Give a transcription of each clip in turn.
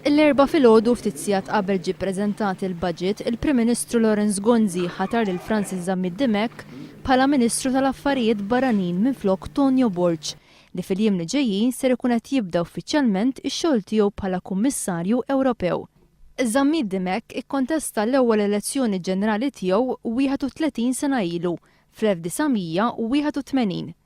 L-Erbgħa filgħodu ftit sigħat qabel ġie ppreżentat il-Budget, il-Prim Ministru Lawrence Gonzi ħatar lil Francis Zammit Dimech bħala Ministru tal-Affarijiet Barranin minflok Tonio Borg, li fil-jiem li ġejjin ser ikun qed jibda uffiċjalment ix-xogħol tiegħu bħala Kummissarju Ewropew. Zammit Dimech ikkontesta l-ewwel elezzjoni ġenerali tiegħu 31 sena ilu, fl-1981.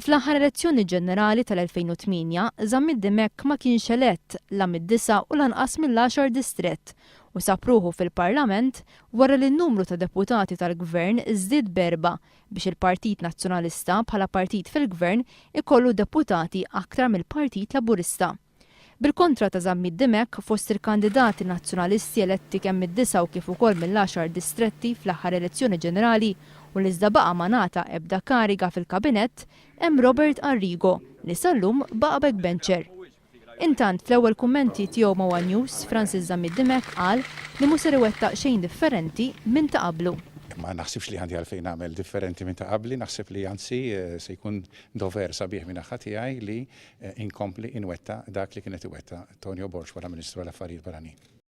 Fl-aħħar elezzjoni ġenerali tal-2008, Zammit Dimech ma kienx elett la mid-disa' u lanqas mill-għaxar distrett u sab ruħu fil-Parlament wara li n-numru ta' deputati tal-Gvern żdied b'erbgħa biex il-Partit Nazzjonalista bħala partit fil-Gvern ikollu deputati aktar mill-Partit Laburista. Bil-kontra ta' Zammit Dimech, fost il-kandidati Nazzjonalisti eletti kemm mid-disgħa u kif ukoll mill-għaxar distretti fl-aħħar elezzjoni ġenerali u l-iżda baqa' ma ngħata ebda kariga fil-Kabinett, hemm Robert Arrigo li sal-lum baqa' backbencher. Intant, fl-ewwel kummenti tiegħu ma' one News, Francis Zammit Dimech qal li mhu ser iwettaq xejn differenti minn ta' qablu. Ma naħsibx li għandi għalfejn nagħmel differenti minn ta' qabli, naħseb li anzi se jkun dover sabiħ min-naħa tiegħi li inkompli inwettaq dak li kien qed iwettaq Tonio Borg bħala Ministru għall-Affarijiet Barranin.